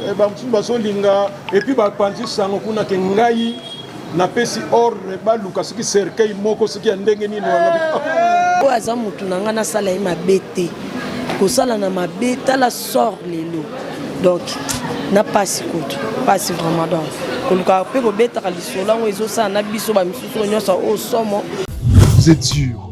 Eh, bamosusu bazolinga epuis bapanzi sango kuna ke ngai napesi ordre baluka soki cercueil moko soki ya ndenge nini oyo aza motu na ngai nasala ye mabe te kosala na mabe tala sort lelo donc na pasi kutu pasi vraiment donc koluka mpe kobetaka lisolo yango ezosala na biso bamisusu nyonso oyo somo Vous êtes sûr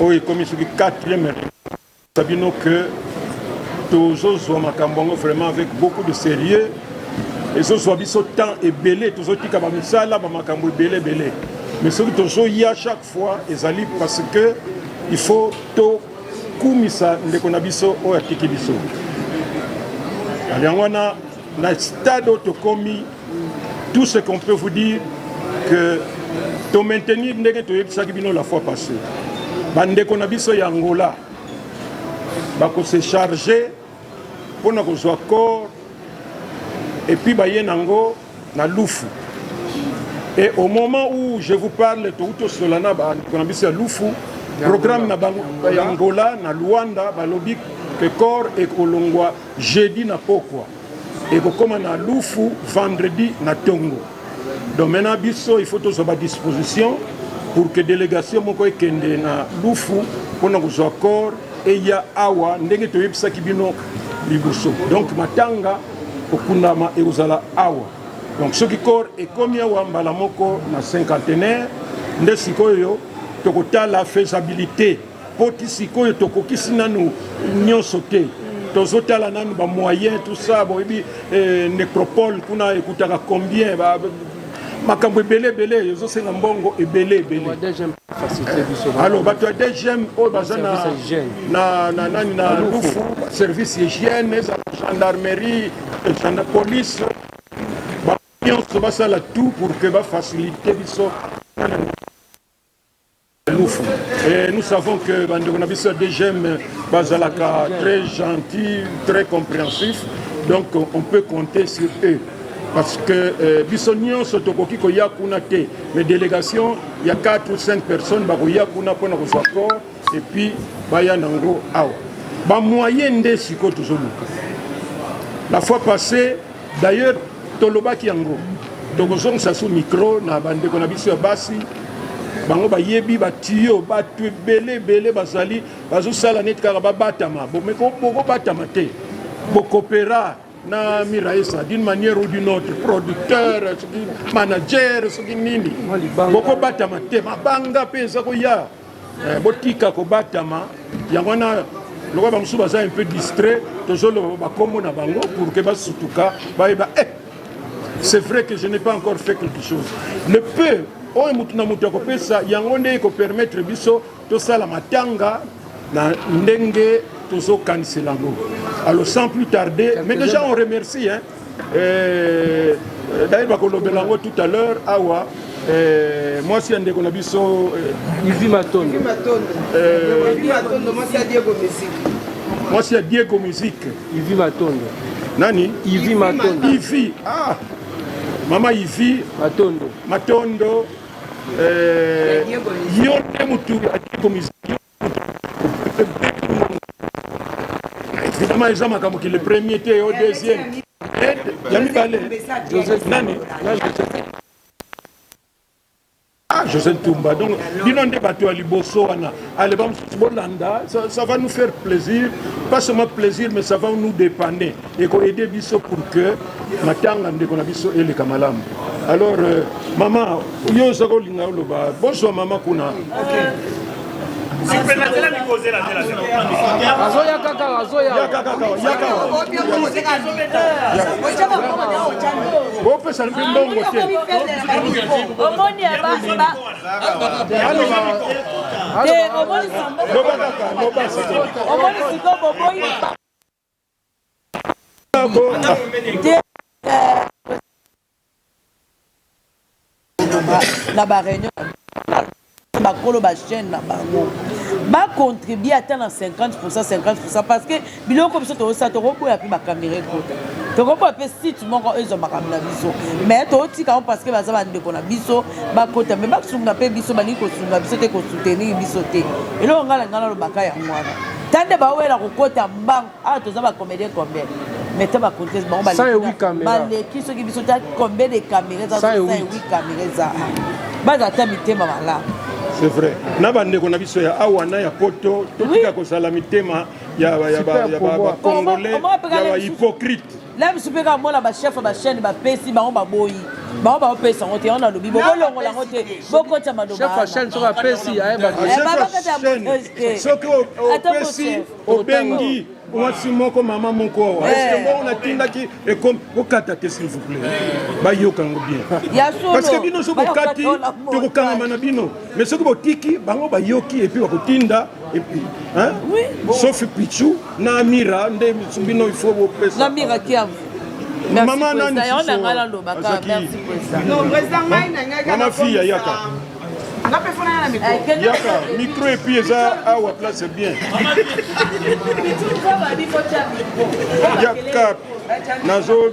Oyo ekomi soki quatrième reunion bino que tozozwa makambo yango vraiment avec beaucoup de sérieux ezozwa biso temps ebele tozotika bamisala bamakambo ebele ebele mais soki tozoya chaque fois ezali parce que il faut tokumisa ndeko na biso oyo atiki biso yango wana Na stade oyo tokomi, tout ce qu'on peut vous dire que to maintenir ndenge toyebisaki bino la fois passée. Bandeko na biso ya Angola bako se charger mpo na kozwa corps et puis baye nango na lufu et au moment où je vous parle touti osola na bandeko na biso ya lufu programme na bango ya angola na luanda balobi que corps ekolongwa Jeudi na pokwa ekokoma na lufu vendredi na tongo donc maintenant biso il faut tozwa ba disposition pour que délégation moko ekende na lufu mpona kozwa corps eya awa ndenge toyebisaki bino liboso donc matanga kokundama ekozala awa donc soki corps ekomi awa mbala moko na cinquantenaire nde sikoyo tokotala faisabilité mpo ti sikoyo tokokisi nanu nyonso te tozotala nanu bamoyen tout ça boyebi eh, necropole kuna ekutaka combien ba, makambo ebele ebele ezosenga mbongo ebele ebele alors bato ya dgm oyo baza na nani na lufu service hygiène ezala gendarmerie na police bango nyonso basala tout pour que bafacilite biso Lufu. Et nous savons que bandeko na biso ya DGM bazalaka très gentil, très compréhensif. Donc on peut compter sur eux. Parce que euh, biso nyonso tokoki koya kuna te mais délégation ya 4 ou 5 personnes bakoya kuna mpo na kozwa accord et puis baya nango awa bamoyen nde sikoyo tozoluka la fois passée D'ailleurs tolobaki yango tokozongisa su micro na bandeko na biso ya basi bango bayebi batiyo bato ebele ebele bazali bazosala neti kaka babatama bokobatama te bokopera na miraesa d'une manière ou d'une autre producteur soki manager soki nini bokobatama te mabanga mpe eza koya Eh, botika kobatama yango wana lokola bamosusu baza un peu distrait tozoloba bakombo na bango pour ke basutuka bayeba eh, c'est vrai que je n'ai pas encore fait quelque chose le peu oyo motu na motu akopesa yango nde ekopermettre biso tosala matanga na ndenge tozokanisela yango alors sans plus tarder mais déjà on remercie hein, Eh, d'ailleurs bakolobela yango tout à l'heure awa eh, mwasi ya ndeko na biso eh, ivi matondo mwasi ya diego musique ivi matondo nani ivi matondo ivi ah mama ivi matondo matondo yo nde motu ya diego musique Vraiment eza makambo ki le premier te yo deuxième ya mibale nani ah José Ntumba donc bino nde bato ya liboso wana ale bamosusu bolanda ça va nous faire plaisir pas seulement plaisir mais ça va nous dépanner eko aider biso pour que matanga ndeko na biso eleka malamu alors euh, mama yo soki olinga oloba bozwa mama kuna azoya kaka azoya bopesa mpe mbongo te omoni omoni siko boboyi na ba réunion bakolo ba chaîne na bango ba contribuer ata na 50 50 parce que biloko biso tozosala tokoboya mpe bakamera ekota tokoboya mpe site moko ezwa makambo na biso mais totika yango parce que baza bandeko na biso bakota mais basunga mpe biso balingi kosunga biso te kosoutenir biso te eloko ngai na ngai nalobaka yango wana Tande ba wela kokota mbangu awa toza ba comédien combien mais ta ba conteste bango baleki soki biso ta combien de caméra eza sa ewi caméra eza baza ata mitema malamu c'est vrai na bandeko na biso ya awa na ya poto totika kozala mitema ya bacongolais ya bahypocrite na biso mpe kaka mona bachef ya bachaine bapesi bango baboyi bango baopesa yango te yango nalobi bokolongola yango te bokotya malobasoki opesi obengi mwasi moko mama moko awa eske eh. bongo natindaki ekomi bokata te s'il vous plaît eh. bayoka yango bien parce que bino soki bokati tokokangama na bino mais soki botiki bango bayoki epuis bakotinda epuis hein? oui, bon. sofi pichu na amira nde bino il faut bopesa amira kiavu mama nani mama fiya yaka eh, yaka micro epuis eza awa place bien yaka nazo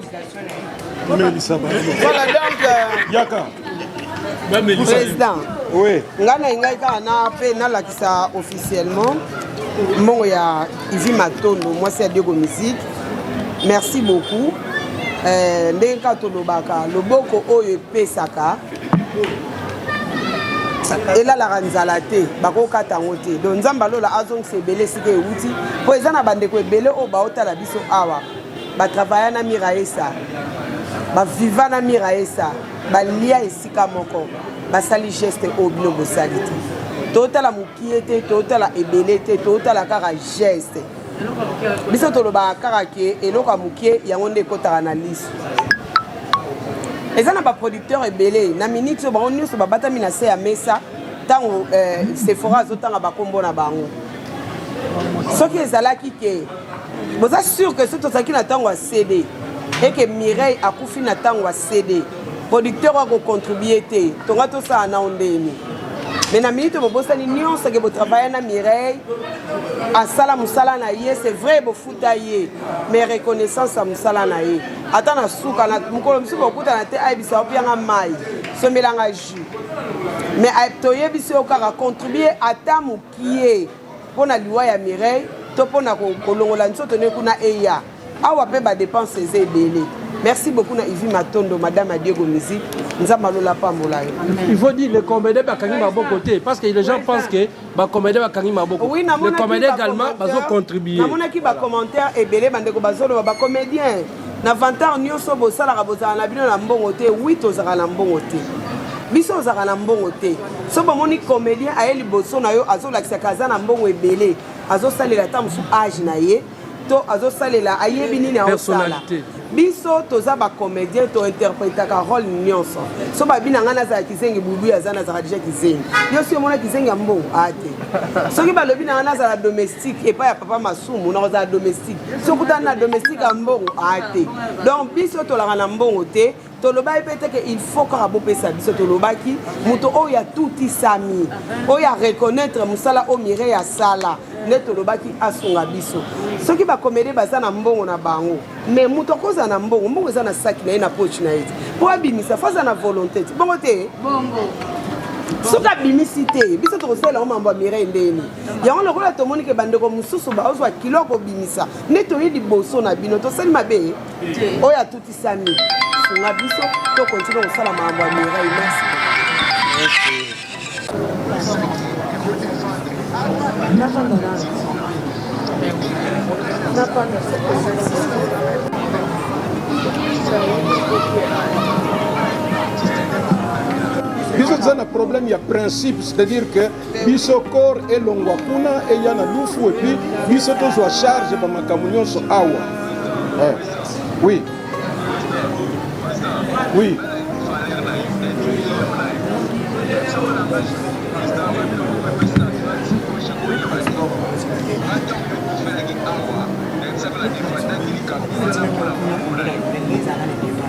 Voilà donc. Euh, Yaka. Président. Oui. Nga na ngai kaka na pe nalakisa officiellement mbongo ya Ivi Matondo mwasi ya Diego Musique. Merci beaucoup. Euh, ndenge kaka tolobaka loboko oyo epesaka elalaka nzala te bakokata yango te don nzambe alola azongisa ebele esika ewuti mpo eza na bandeko ebele oyo baotala biso awa ba travaya na miraesa ba viva na miraesa balia esika moko basali geste oyo bino bosali te totala mokie te totala ebele te totala kaka geste biso tolobaka kaka ke eloko ya mokie yango nde ekotaka na liso eza na baproducteur ebele na miniti oyo bango nyonso babatami na se ya mesa ntango eh, sephora azotanga bakombo na bango soki ezalaki ke boza sur que soki tozalaki na ntango ya cd eke mireille akufi na ntango ya cd producteur wa kocontribue te tonga tosala nao ndeni me na minute bobosani nyonso ke botravaille na mireille asala mosala na ye c'est vrai bofuta ye mais reconnaissance ya mosala na ye ata na suka na mokolo mosusu bokutana te ayebisa yo pianga mai sombelanga jus mais toyebisi yo kaka contribue ata mokie pona liwa ya Mireille to pona kolongola nzoto ne kuna eya awa pe ba depense eza ebele merci beaucoup na Ivy Matondo madame ya Diego Musique nzambe alola apambola yo il faut dire les comédiens bakangi maboko te parce que les gens pensent que ba comédiens bakangi maboko oui, les comédiens également bazo contribuer namonaki ba commentaires ebele bandeko bazoloba ba comédiens na vantar nyonso bosalaka bozala na bino na mbongo te wi tozalaka na mbongo te biso ozalaka na mbongo te so bomoni comédien aye liboso na yo azolakisaka aza na mbongo ebele azosalela ata mosusu age na ye to azosalela ayebi nini aosala biso toza bacomédien tointerprétaka role nyonso so babi na ngai nazala kizengi bubu aza nazala deja kizengi yo si omona kizengi ya mbongo aa te soki balobi na ngai nazala domestique epai ya papa masumu nakozala domestique soki otali na domestique ya mbongo a te donc biso tolaka na mbongo te tolobaki mpe te ke il faut kaka bopesa biso tolobaki moto oyo atutisami oyo areconnaitre mosala oyo mirei asala nde tolobaki asunga biso soki bakomede baza na mbongo na bango mais moto akozala na mbongo mbongo eza na saki na ye na poche na ye te mpo abimisa fo aza na volonté te bongo te soki abimisi te biso tokosalela yango mambo ya mirei ndeni yango lokola tomoni ke bandeko mosusu baozwa kilo ya kobimisa nde toye liboso na bino tosali mabe oyo atutisami sunga biso tokontinue kosala makambo ya mirai merci biso toza na problème ya principe c'est-à-dire que biso corps elongwa kuna eya na lufu epuis biso tozwa charge ba makambo nyonso awa eh. oui oui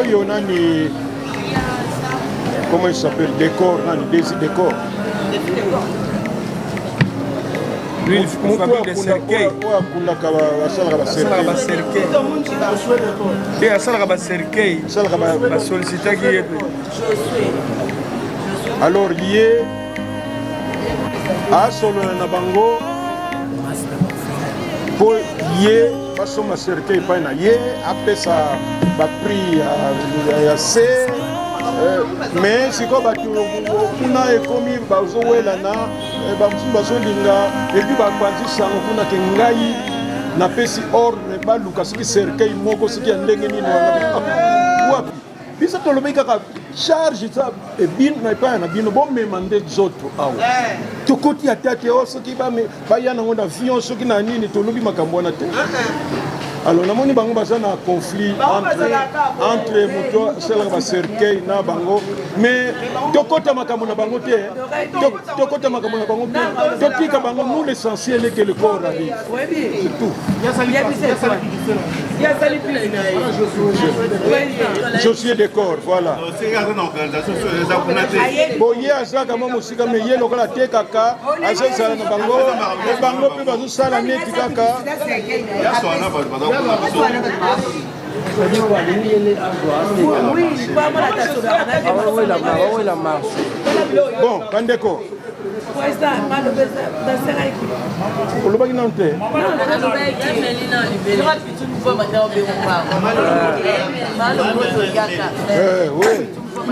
oyo nani comment il s'appelle décor nani desi décor te asalaka bacercueil basollicitaki ye mpe alors ye asolola na bango mpo ye basomba cercueil epai na ye apesa baprix ya se euh, mais sikoyo bato kuna ekomi bazowelana Eh, bamosusu bazolinga epuis bapanzi sango kuna ke ngai napesi ordre baluka soki cercueil moko soki ya ndenge nini wapi biso tolobi kaka charge eza ebino na epai na bino bomema nde nzoto awa eh. tokoti ata te o oh, soki baya nango na avion soki na nini tolobi makambo wana te eh, alors namoni bango baza na conflit entre moto asalaka bacercueil na bango mais tokota makambo na bango te tokota makambo na bango topika bango nous l'essentiel eke le corps arrive josué de corps voilà boye azalaka mwa mosika me ye lokola atekaka azozala na bango bango mpe bazosala neti kaka bon bandeko olobaki nanu te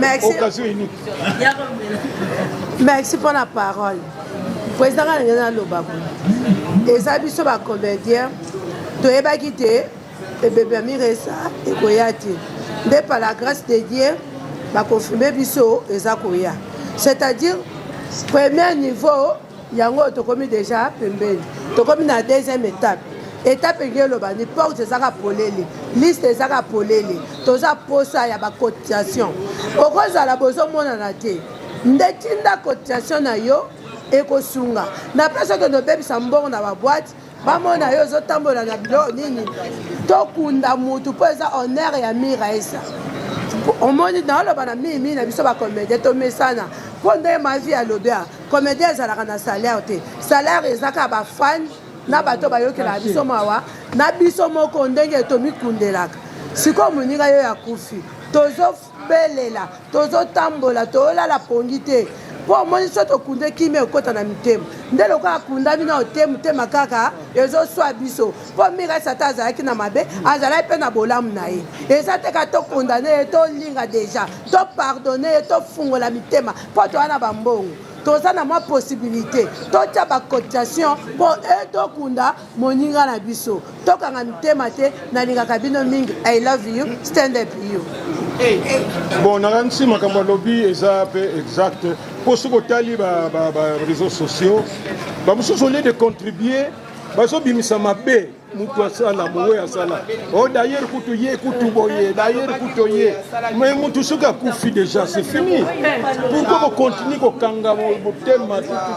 merci merci mpo na parole président nga ndenge naloba boye eza biso bacomédien toyebaki te Ebembe ya miresa ekoya te nde par la grace de Dieu ba confirmer biso eza koya c'est à dire premier niveau yango oyo tokomi deja pembeni tokomi na deuxième étape etape elingi eloba ni porte ezaka polele liste ezaka polele toza posa ya bacotisation okozala bozomonana te nde tinda cotisation na yo ekosunga na place okende obebisa mbongo na baboite bamona yo ozotambola na bilo nini tokunda mutu mpo eza honneur ya miraesa omoni naoloba na mimi na biso bacomédien tomesana mpo nde mavi alobi a comédien ezalaka na salaire te salaire ezaka bafane na bato bayokelaka biso mawa na biso moko ndenge tomikundelaka sikoyo moninga yo ya kufi tozo belela tozotambola tolala pongi te mpo omoni so tokunde kimia ekota na mitema nde lokola akundami nao te motema kaka ezoswa biso mpo mika sata azalaki na mabe azalaki mpe na bolamu na ye eza te ka tokondane ye tolinga deja topardone ye tofungola mitema mpo toya na bambongo toza na mwa possibilité totya bacotisation mpo etokunda Moninga na biso tokanga mitema te nalingaka bino mingi I love you stand up you. Bon nakanisi makambo alobi eza pe exact mpo soki otali ba, ba, ba réseaux sociaux bamosusu olie de contribuer bazobimisa mabe mutu asala boye asala o oh, dayere kutu ye kutu boye dayere kutu ye me mutu soki akufi deja se fini pourkoi bokontinue kokanga motema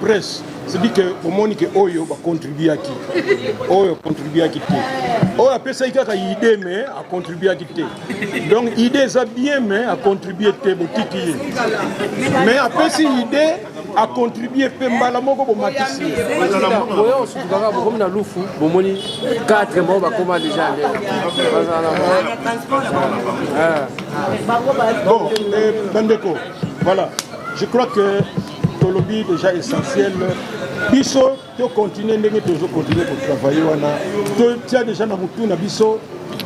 presse c'est dit que omoni ke oyo bacontribuaki oyo contribuaki te oyo apesaki kaka idée mais acontribuaki te donc idée eza bien mais acontribue te botiki ye mais apesi idée acontribue mpe mbala moko bomatisi oyo osukaka bokomi na lufu bomoni 4 moko bakoma deja nde bon eh, bandeko voilà je crois que tolobi deja essentiel biso to continue ndenge tozo continue kotravaille wana totia deja na motu na biso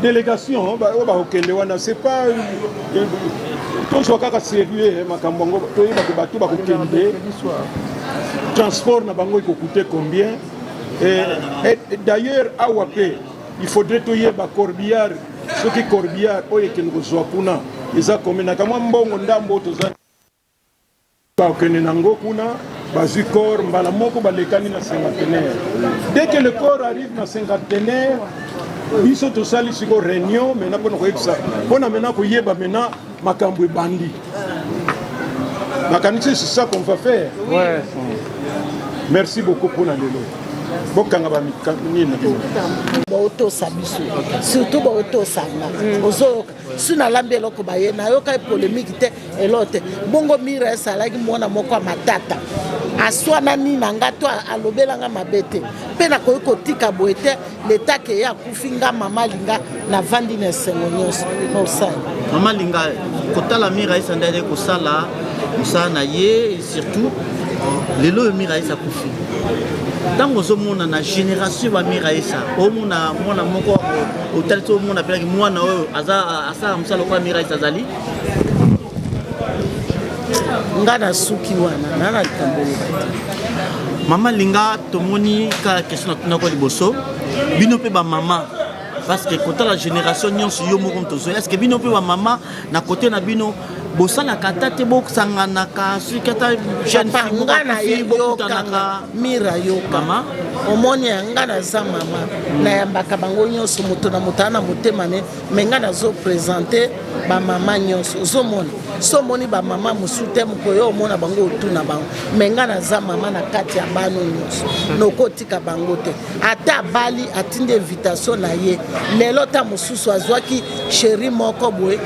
délégation oyo oh, bakokende oh, wana c'est pas euh, tozwa kaka sérieux makambo yango toyeba ke bato bakokende transport na bango ekokute combien d'ailleurs awa mpe il faudrait toyeba corbillard soki corbillard oyo ekende kozwa kuna eza combien na kamwa mbongo ndambo toza Bakokende na ngo kuna bazwi corps mbala moko balekani na cinquantenaire dès que le corps arrive na cinquantenaire biso tosali siko réunion mena mpona koyebisa mpona mena koyeba mena makambo ebandi nakanisi c'est ça qu'on va faire ouais. merci beaucoup mpona lelo bokanga bamikani na bino baotosa biso surtout baotosa nga ozoyoka si nalambi eloko baye nayokaki polemiki te elo te bongo mira esalaki mwana moko ya matata aswanani na nga to alobela nga mabe te mpe nakoki kotika boye te leta keye akufi nga mama linga navandi na esengo nyonso mosala mama linga kotala mira esandaki kosala mosala na ye surtout lelo oyo miraesa akufi ntango ozomona na génération ba miraesa omona mwana moko otali ti omona pelaki mwana oyo asala mosala lokola miraesa azali nga nasuki wana na na likambo mama linga tomoni kaka question natunako liboso bino mpe bamama parce que kotala génération nyonso yo moko moto ozoya est ce que bino mpe bamama na kote na bino bosalaka ata te bosanganaka soki ata jeune fille nga na ye yokanaka mira yoka mama omoni ya nga naza mama nayambaka bango nyonso moto na moto aa na motema ne me nga nazo présente bamama nyonso ozomona so omoni bamama mosusu te mokoyo omona bango otuna bango me nga naza mama na kati ya bano nyonso nokotika bango te ata abali atindi invitation na ye lelo ta mosusu azwaki Cherie moko boye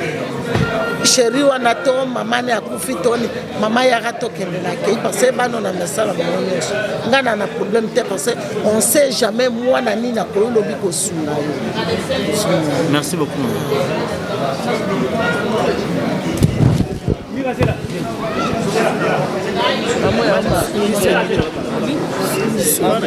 sheri wana to mama ne akufi toni mama yaka tokendelaki parce bano na misala bango nyonso ngai na na problème te parce on sait jamais mwana nini akoyo lobi kosunga yo merci beaucoup Mama,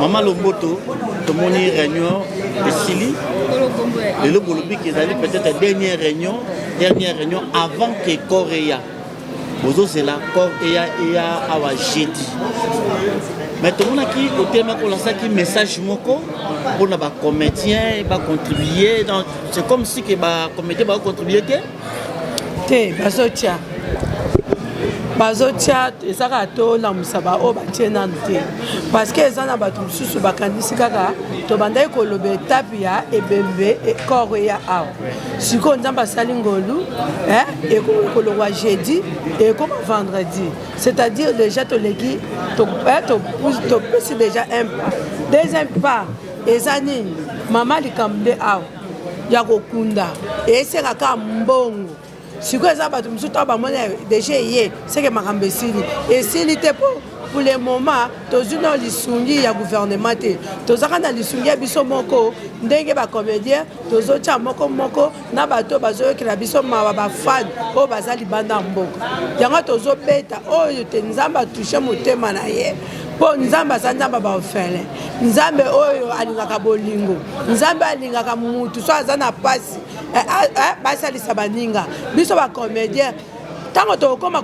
mama lomboto tomoni réunion esili lelo bolobi ke ezali peut-être dernière réunion dernière réunion avant que corps eya bozozela corps eya eya awa jeudi mais tomonaki otelemaki olasaki message moko mpona bacomédien bacontribue dans C'est comme si que ba comité ba contribuer te. Te bazotia. bazotia eza kaka tolamusa baoyo batie nanu te parce que eza na bato mosusu bakanisi kaka tobandaki koloba etape ya ebembe ekoro eya awa sikoyo nzambe asali ngolu eh, ekolokwa jeudi ekoma vendredi c'est-à-dire déjà toleki eh, topesi déjà un pas deuxième pas eza nini mama likambo nde awa ya kokunda esenga kaka mbongo sikoyo eza bato mosusu ntango bamoni deja eye seke makambo esili esili te mpo pour le moment tozwi na lisungi ya gouvernement te tozaka na lisungi ya biso moko ndenge bacomédien tozotya moko moko na bato oyo bazoyokela biso mawa bafane oyo baza libanda ya mboka yango tozobeta oyo te nzambe atushe motema na ye mpo nzambe aza nzambe ya baofele nzambe oyo alingaka bolingo nzambe alingaka mutu so aza na mpasi eh, ah, eh, basalisa baninga biso bacomédien ntango tokokoma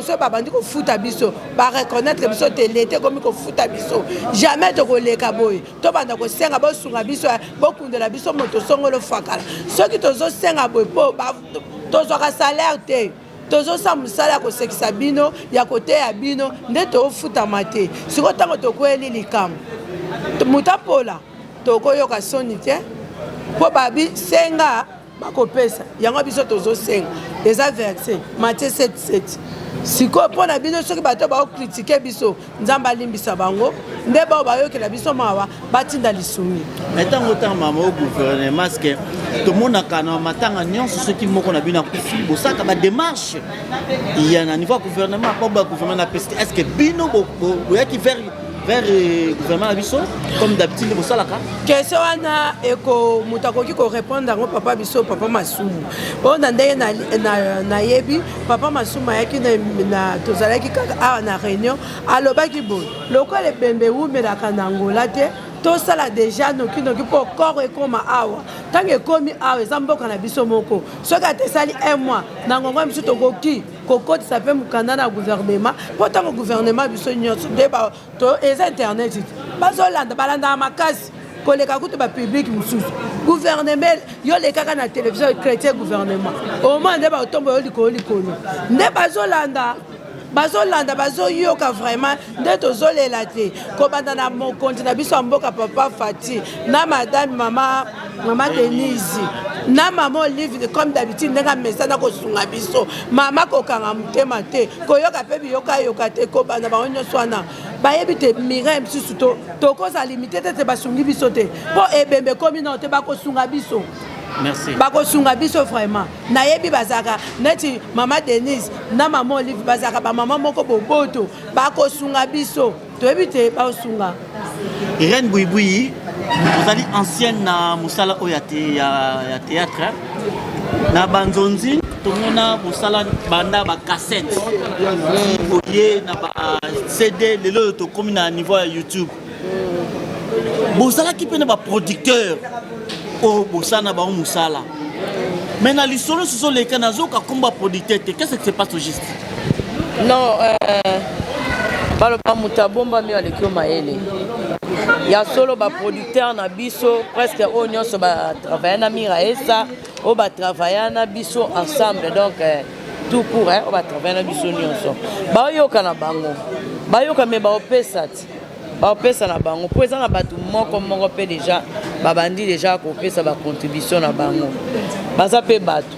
so babandi kofuta biso bareconnaitre biso te leta ekomi kofuta biso jamais tokoleka boye tobanda kosenga bosunga biso bokundela biso moto songolo fakala soki tozosenga boye mpo tozwaka salaire te tozosala mosala ya kosekisa bino ya koteya bino nde toofutama te sikoyo ntango tokweli likambo moto apola tokoyoka soni te mpo babi senga bakopesa yango biso tozosenga eza verse matie 77 sikoyo mpo na bino soki bato bakokritike biso nzambe alimbisa bango nde bao bayokela biso mawa batinda lisumi na ntango otanga mama o gouvernement ceke tomonaka na matanga nyonso soki moko na bino akufi bosaka bademarche ya na niveau ya gouvernement mpo ba gouvernement na pesi est ce que bino boyaki vers vers euh, gouvernement na biso comme d'habitude bosalaka question wana eko moto akoki korépondre yango papa biso papa masumu oyo na ndenge nayebi papa masumu ayaki tozalaki kaka awa na réunion alobaki boye lokola ebembe ewumelaka na ngola te tosala deja nokinoki mpo corps ekoma awa ntango ekomi awa eza mboka na biso moko soki ata esali un mois na ngongo ya mosusu tokoki kokotisa mpe mokanda na guvernema mpo ntango guvernema biso nyonso nde eza internet bazolanda balandaka makasi koleka kutu bapublike mosusu guvernema yo lekaka na televizio chrétien guvernema omona nde baotombo yo likolo likolo nde bazolanda bazolanda bazoyoka vraiment nde tozolela te kobanda na mokonzi na biso ya mboka papa fati na madame mama mama denise na mama olive comme d'habitude ndenge amesana kosunga biso mama kokanga motema te koyoka mpe biyokayoka te kobanda bango nyonso wana bayebi te mirai mosusu tokozala limite te te basungi biso te mpo ebembe ekomi nao te bakosunga biso bakosunga biso vraiment nayebi bazalaka neti mama denise na mama olive bazalaka bamama moko boboto bakosunga biso toyebi te baosunga irene buibuyi ozali ancienne na mosala oyo ya théâtre na banzonzi tomona mosala banda bacassette oye na bacd lelo oyo tokómi na niveau ya youtube bozalaki mpe na baproducteur oyo bosana bango mosala mais na lisolo sizoleka nazoka komba producteur te qu'est-ce que se passe au juste non euh, baloba moto abombami aleki yo mayele ya solo baproducteur na biso presque oyo nyonso batravaille na mira esa oyo batravaille na biso ensemble donc euh, tout court oyo batravaille na biso nyonso baoyoka na bango bayoka me baopesa ti bapesa na bango mpo eza na bato moko moko mpe deja babandi deja kopesa bacontribution na bango baza mpe bato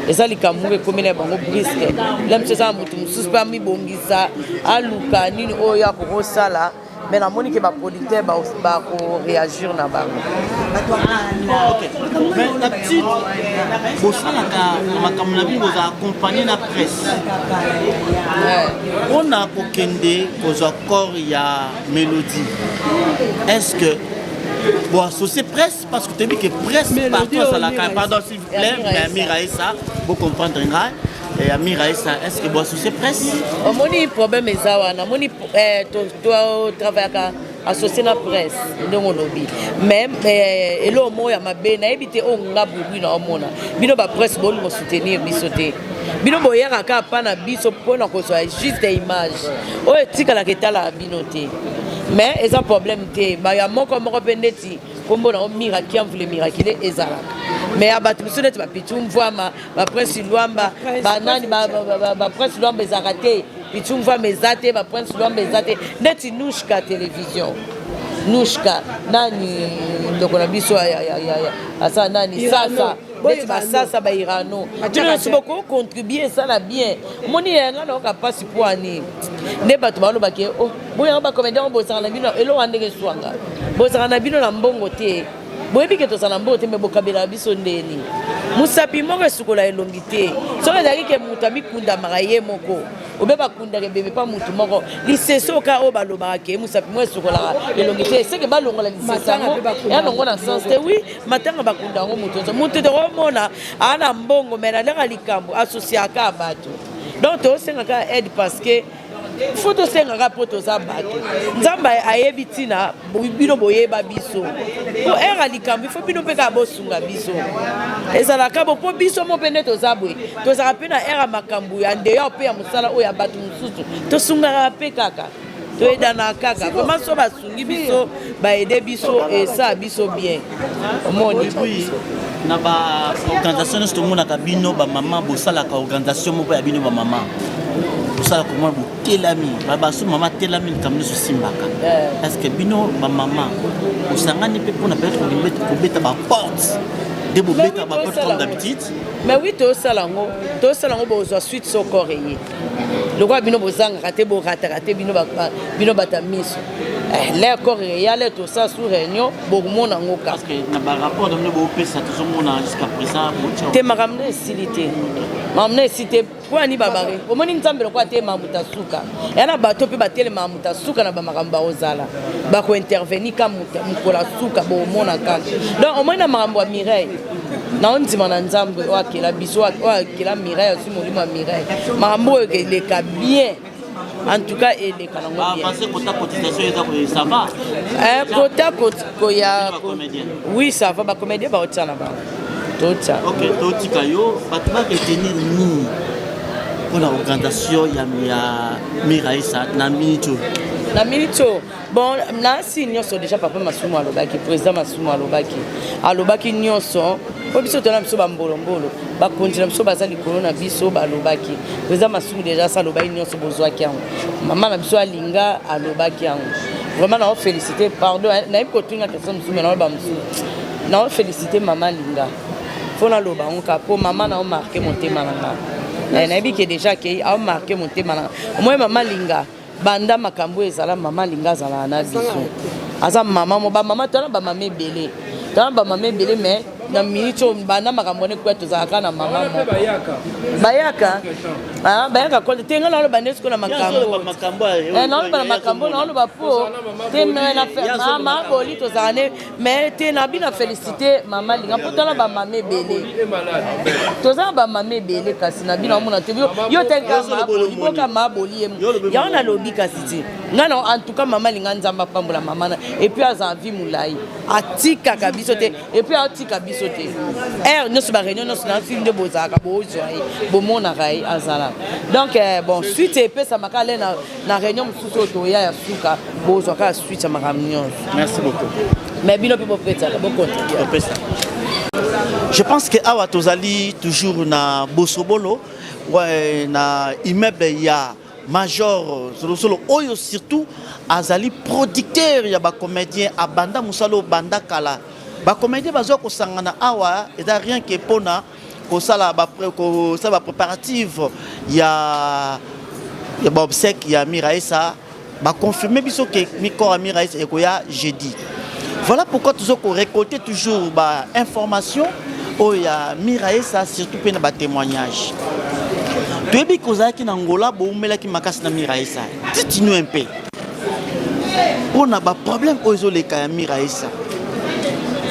eza likambo moko ekomeli ya bango briske la miso eza na moto mosusu mpe amibongisa aluka nini oyo ya kokosala mais namoni ke baproducteur bakoreagir na bango bosalaka makambo na bino boza accompagne na presse mpona kokende kozwa corps ya melodie est ce que bon associé presse parce que toyebi que presse partout azalaka pardon s'il vous plaît mais amira esa bocomprendre ngai ya mira esa est ce que bo associé presse omoni problème eza wana omoni totravaillaka associé na presse ndenge olobi mais eh, eloo moko ya mabe nayebi te oyo nga bogwi na omona bino bapresse bolingo soutenir biso te bino boyaka kaka mpa na biso mpo na kozwa juste image oyo etikalaka etalaka bino te mais eza problème te baya moko moko mpe ndeti nkombo nango miraki amvule mirakile ezalaka mais ya bato mosusu neti bapitu mvwama baprince lwamba banani baprince lwamba ezalaka te pitu mvwama eza te baprince lwamba eza te ndeti nushka télévision nushka nani ndoko na biso asala nani sasa neti basasa bairano bino nyonso boko contribue esala bien omoni yanga nayoka mpasi mpo ani nde bato balobake oh, boyanga bacomédien bosaka na bino eloko ya ndenge eswanga bosaka na bino na mbongo te boyebi ke tozala mbongo te me bokabelaka biso ndeni mosapi moko esukola elongi te soki ezalaki ke moto amikundamaka ye moko obe bakundaka ebebe mpa motu moko lisese oka oyo balobaka ke mosapi moko esukolaka elongi te seke balongola lisese yango yango na sens te wi matanga bakunda yango moto nyonso moto te omona ana mbongo me nalaka likambo asosiaka bato donc tosengaka aide parce que fo tosengaka mpo toza bato nzambe ayebi ntina bino boyeba biso mpo ere ya likambo ifo bino mpe kaka bosunga biso ezalaka bo mpo biso mo mpe nde toza boye tozalaka mpe na ere ya makambo ya ndeyo mpe ya mosala oyo ya bato mosusu tosungaka mpe kaka toyedana kaka vraiment so basungi biso baede biso esa biso bien omoni na baorganisation nyonso tomonaka bino bamama bosalaka organisation moko ya bino bamama bosala komona botelami babaso mama atelami likambo nyonso esimbaka eh. parceke bino bamama bosangani mpe mpona peut-être kobeta baporte nde bobeta baporte comme d'habitude mais oui tosala yango tosala yango bozwa suite soko reye lokola bino bozangaka te borataka te bino bato ya miso eh, le corps eyale tosala sous réunion bokomona yango kakate makambo nde esili te makambo nde esili te mpo ya nibabare omoni nzambe lokola te mamuta suka ya na bato mpe batelema mamuta suka na bamakambo bakozala bakointervenir ka mokola suka bokomona kaka donc omoni na makambo ya mireille naondima na nzambe oyo akela biso oyo akela mireille molimo ya mirai makambo oyo eleka bien en tout cas eleka nango ah, bienpota koya oui ça va bacomédien baotia na bango totia totika yo bato baketenir nini mpona organisation ya miraisa na minute oyo na minute oyo bon na si nyonso déjà papa masumu alobaki président masumu alobaki alobaki nyonso mpo biso tona biso bambolombolo bakonzi na biso baza likolo na biso balobaki président masumu déjà sa alobaki nyonso bozwaki yango mama na biso alinga alobaki yango vraiment nao félicité pardon eh, nayebi kotuna question mosusu me naoloba mosusu nao félicité mama alinga mpo naloba yango kaka mpo mama nao marke motema na ngai eh, nayebi ke déjà akei aomarke motema na ngai omoye mama alinga Banda makambo ezala mama linga azalaka na biso aza mama mo bamama tala bamama ebele tala bamama ebele me na minute oyo banda makambo wana ekuya tozalaka na mama bayaka ah, bayaka kole te ngai naloba nde sikoyo na makambo eh, naloba na makambo naoloba po te mama boli tozala ne mais te na bino felicite mama linga mpo tala bamama ebele toza na bamama ebele kasi na bino amona te yo teliboka ma boli ye yango nalobi kasi te ngai na en tout cas mama linga nzambe apambola mama na epuis aza vie molai atikaka biso te epuis atika biso te heure nyonso bareunion nyonso na fil nde bozalaka bozwa ye bomonaka ye azala donc eh, bon suite epesamaka le na na réunion mosusu oyo toya ya suka bozwa kaka suite ya makambo nyonso merci beaucoup mais bino mpe bopesaka bokontribopesa je pense que awa tozali toujours na bosobolo ouais, na immeuble ya major solosolo oyo surtout azali producteur ya bacomédien abanda mosala obanda kala bacomédien bazwa kosangana awa eza rien que mpona kosala ba kosala ba préparative ya ya ba obsèque ya Miraesa ba confirmer biso que micro ya Miraesa ekoya jeudi voilà pourquoi tozo ko récolter toujours ba information oyo ya Miraesa surtout pe na ba témoignages toyebi kozalaki na Angola bowumelaki makasi na Miraesa titinu un peu pona ba problème oyo ezoleka ya miraesa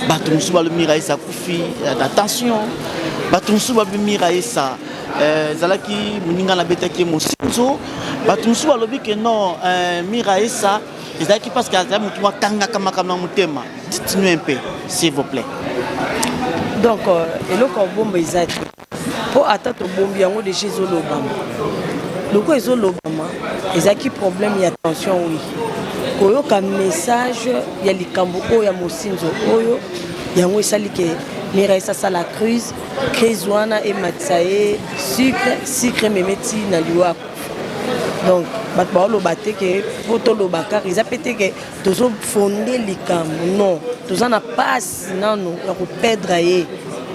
bato mosusu balobi miraesa akufi na tension bato mosusu balobi miraesa eh, ezalaki euh, moninga nabetaki ye mosinzo bato mosusu balobi ke non euh, miraesa ezalaki parce que azali motu akangaka makambo na motema dites-nous un peu s'il vous plaît donc euh, eloko ya bomba eza te mpo ata tobombi yango deja ezolobama lokola ezolobama ezalaki problème ya tension wi koyoka message ya likambo oyo ya mosinzo oyo yango esali ke mirais asala crise crise wana ematisa ye sucre sucre ememe ti na liwa akufa donc bato baoloba te ke mpo toloba kaka eza mpe te ke tozofonde likambo non toza na pasi nanu ya ko perdre ye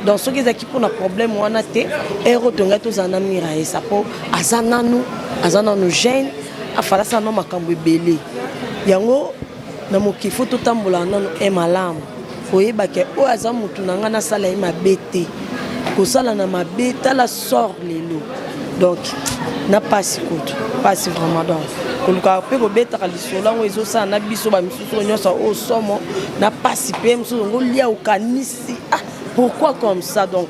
donc soki ezalaki mpona problème wana te ero tongai tozala na mira yesa mpo aza nanu aza nanu jeune afalasa nano makambo ebele yango na mokili fo totambola nanu e malamu koyebake oyo aza motu na ngai nasala ye mabe te kosala na mabe tala sort lelo donc na mpasi kutu mpasi vraiment donc kolukaka mpe kobetaka lisolo yango ezosala na biso bamisusu soki nyonso oyo oh, somo na mpasi mpe mosusu yango lia okanisi ah pourquoi comme ça donc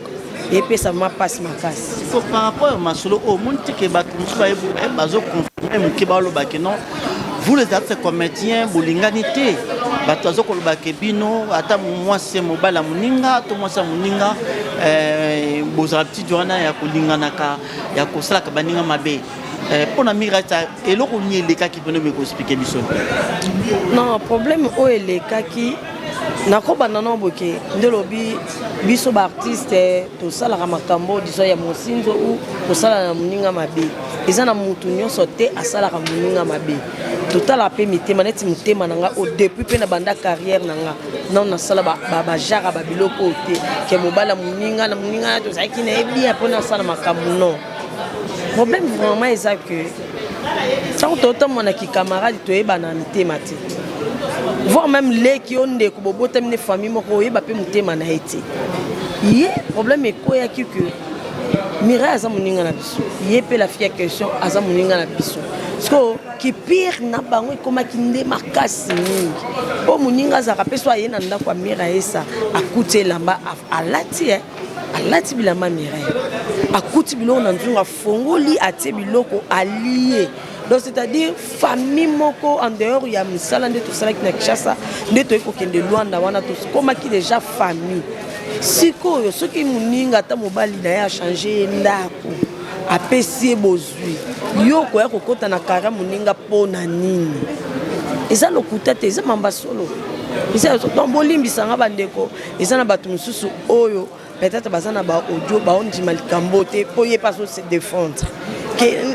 epesa vraimen mpasi makasi so par rapport ya masolo oyo oh, omoni teke bato mosusu eh, bazoconfirme moke balobake non vous les artistes comédiens bolingani te bato baza koloba ke bino ata mwasi ya mobali ya moninga to mwasi ya moninga eh, bozala petit wana ya kolinganaka ya kosalaka baninga mabe Eh, mpo na mirata eloko nini elekaki mpona omekoki explike biso non problème oyo elekaki nakobanda no boke nde olobi biso baartiste tosalaka makambo diso ya mosinzo u kosala na moninga mabe eza na motu nyonso te asalaka moninga mabe totala mpe mitema neti motema na nga o depuis mpe na banda carrière na nga nao nasala bajara babiloko oyo te ke mobala moninga na moninga tozalaki na ye bia mpo nasala makambo non Problème vraiment eza que ntango totambola na kikamarade toyebana mitema te voir même leki yo ndeko bobotami ne famille moko oyeba mpe motema na ye te ye problème ekweyaki que mirai aza moninga na biso ye mpe la fille ya question aza moninga na biso sikoyo kipire na bango ekomaki nde makasi mingi mpo moninga azalaka mpe so aye na ndako ya mira esa akuti elamba alati alati bilamba Mireille akuti biloko na nzungu afongoli atie biloko alie donc c'est-à-dire famille moko en dehors ya misala nde tosalaki na Kinshasa nde toyei kokende Luanda wana tokomaki déjà famille sikoyo soki moninga ata mobali na ye achange ye ndako apesi ye bozwi yo okoya kokota na kara moninga mpo na nini eza lokuta te eza mamba solo eza donc bolimbisa nga bandeko eza na bato mosusu oyo peut-être baza na ba audio baondima likambo te mpo ye mpe azo se défendre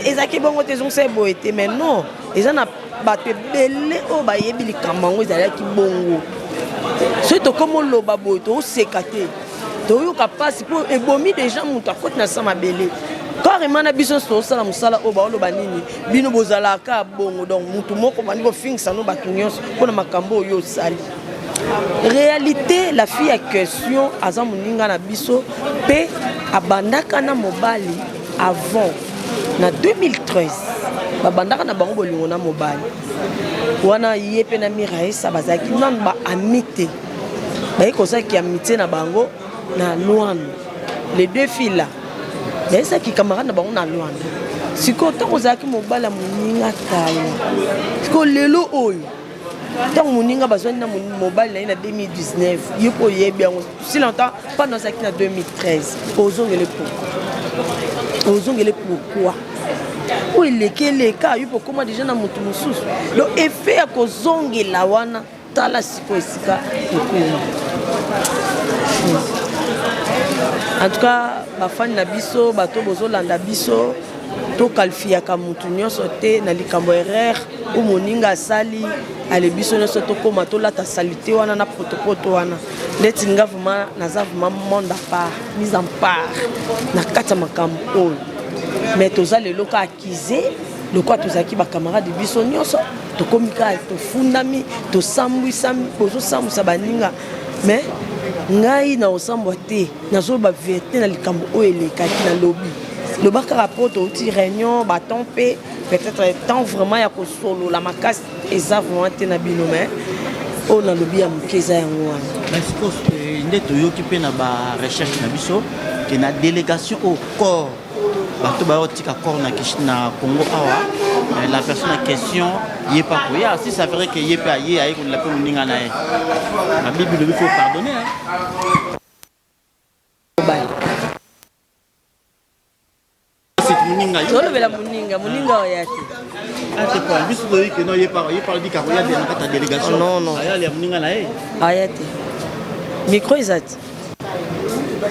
ezalaki bongo te ezongisa ye boye te mais non eza na bato ebele oyo bayebi likambo yango ezalaki bongo soki tokoma oloba boye tooseka te toyoka mpasi mpo ebomi deja moto akoti na sa mabele carrement na biso nyonso tosala mosala oyo baoloba nini bino bozalaka bongo donc motu moko bandi kofingisa no bato nyonso mpo na makambo oyo osali realite la fille ya question aza moninga na biso mpe abandaka na mobali avant na 2013 babandaka na bango bolingo na mobali wana ye mpe na miraesa bazalaki nanu baami te baye kozalaki amitie na bango na lwanda les deux filles là bayesaki camarade na bango na lwanda sikoyo ntango ozalaki mobali ya moninga kala sikoyo lelo oyo ntango moninga bazwani na mobali na ye na 2019 yo mpo oyebi yango si longtemps mpano azalaki na 2013 ozongele pourkui ozongele pourkui oyo eleki eleka yo mpo okoma deja na moto mosusu donc effet ya kozongela wana tala sikoyo esika ekomi en tout cas bafani na biso bato bozolanda biso To qualifiaka mutu nionso te na likambo erreur ou moninga asali ale biso nionso tokoma tolata salite wana na potopoto wana ndeti nga vraiment naza vraiment monde à part mise en part na kati ya makambo oyo mais toza lelo ka accuse lokola tozalaki bacamarade biso nyonso tokomi kaka tofundami tosambwisami bozosambwisa baninga mais ngai na osambwa te nazoloba verite na likambo oyo elekaki na lobi loba kaka po touti réunion baton mpe peut-être temps vraiment ya kosolola makasi eza vraiment te na bino mais oyo nalobi ya moke eza yango wana eh, nde toyoki mpe na barecherche na biso ke na délégation au corps bato bayotika corps na kishi na congo awa eh, la personne en question ye mpe akoya si ça vrai que ye mpe aye aye kolela mpe moninga na ye na bible lobi faut pardonner tolobela moninga moninga ah. oya te ah, biso toyebi ke no ye parle bika koya te na kati ya délégation ayali ya moninga na ye aya te micro eza te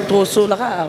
tosolaka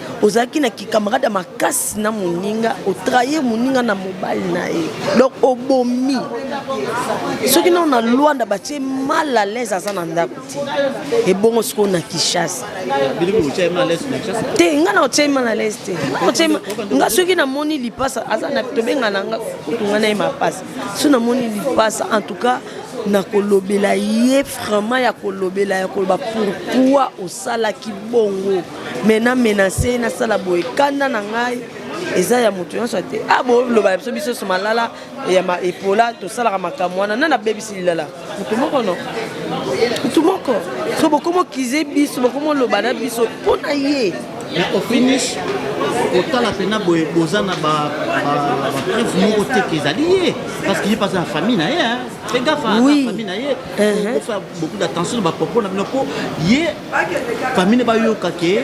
ozalaki na kikamarade ya makasi na moninga otrahir moninga na mobali na ye donc obomi soki nao na lwanda batie mal à l'aise aza na ndako te ebongo sikoyo na kishasa te nga na otie mal à l'aise te nga soki namoni lipasa aza na tobenga na nga kutunga na ye mapasa soki namoni lipasa en tout cas nakolobela ye vraiment ya kolobela ya koloba pourkui osalaki bongo mais na menace ye nasala boye kanda na ngai eza ya moto nyonso te a ah, boloba ya biso biso so malala ya epola tosalaka makambo wana nani abebisi lilala moto moko no moto moko so bokomokize biso bokomoloba na biso mpo na ye mais au finish kotala mpena boye boza na bapreuve moko te ke ezali ye parce que ye mpe aza na famille na ye pe gafa famille na ye uh-huh. bofa beaucoup d'attention na bapropos na bino mpo ye famille bayoka ke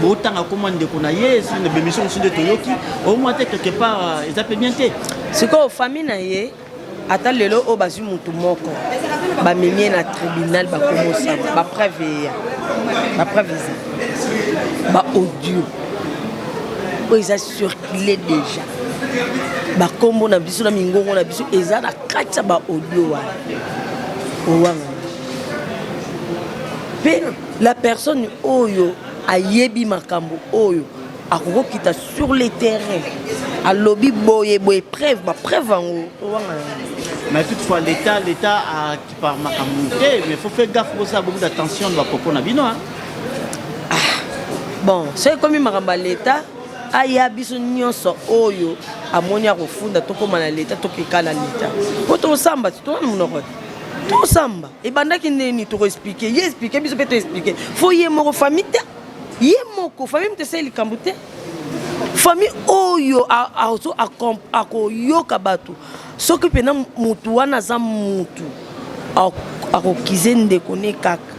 botanga koma ndeko na ye na bemission mosusu nde toyoki omwa te quelque part euh, eza mpe bien te sikoyo famille na ye ata lelo oyo bazwi motu moko bamemi ye na tribunal bakomosama bapreuve eya bapreuve eza baaudio oyo eza circule déjà bakombo na biso na mingongo na biso eza na kati ya baaudio wana owanga mpe la personne oyo ayebi makambo oyo akoki kokita sur le terrain alobi boye boye preuve bapreuve yango towanga mais toutefois l'état l'état akipa makambo te mais faut faire gaffe bosala beaucoup d'attention na bapropos na bino ah, bon soki ekomi makambo ya l'état aya biso nyonso oyo amoni akofunda tokóma na leta tokeka na leta mpo tosamba te tona monoko te tosamba ebandaki ndeni toko explike ye explike biso mpe to explike fo ye moko famille te ye moko famille moto esali likambo te famille oyo akoyoka bato soki mpena motu wana aza motu akokize ndeko ne kaka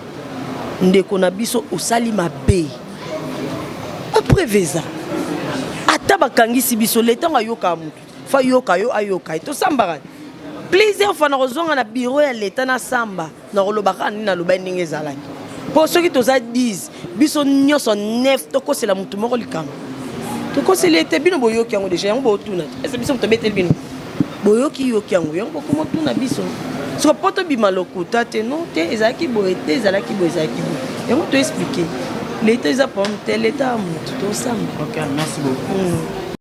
ndeko na biso osali mabe bapreve eza ata bakangisi biso leta yango ayokaka motu Fa yoka yo ayoka ye tosambaka plusieurs fois nakozonga na bureau ya leta nasamba nakoloba kaka nini nalobaki ndenge ezalaki mpo soki toza 10 biso nyonso 9 tokosela motu moko likambo tokoseli ete bino boyoki yango deja yango bootuna ese biso moto obeteli bino boyoki yoki yango yango bokomotuna biso soko mpo tobima lokuta te no te ezalaki boye te ezalaki boye ezalaki boye yango toexplike leta eza problème te leta ya motu tosamba okay, merci beaucoup. Mm.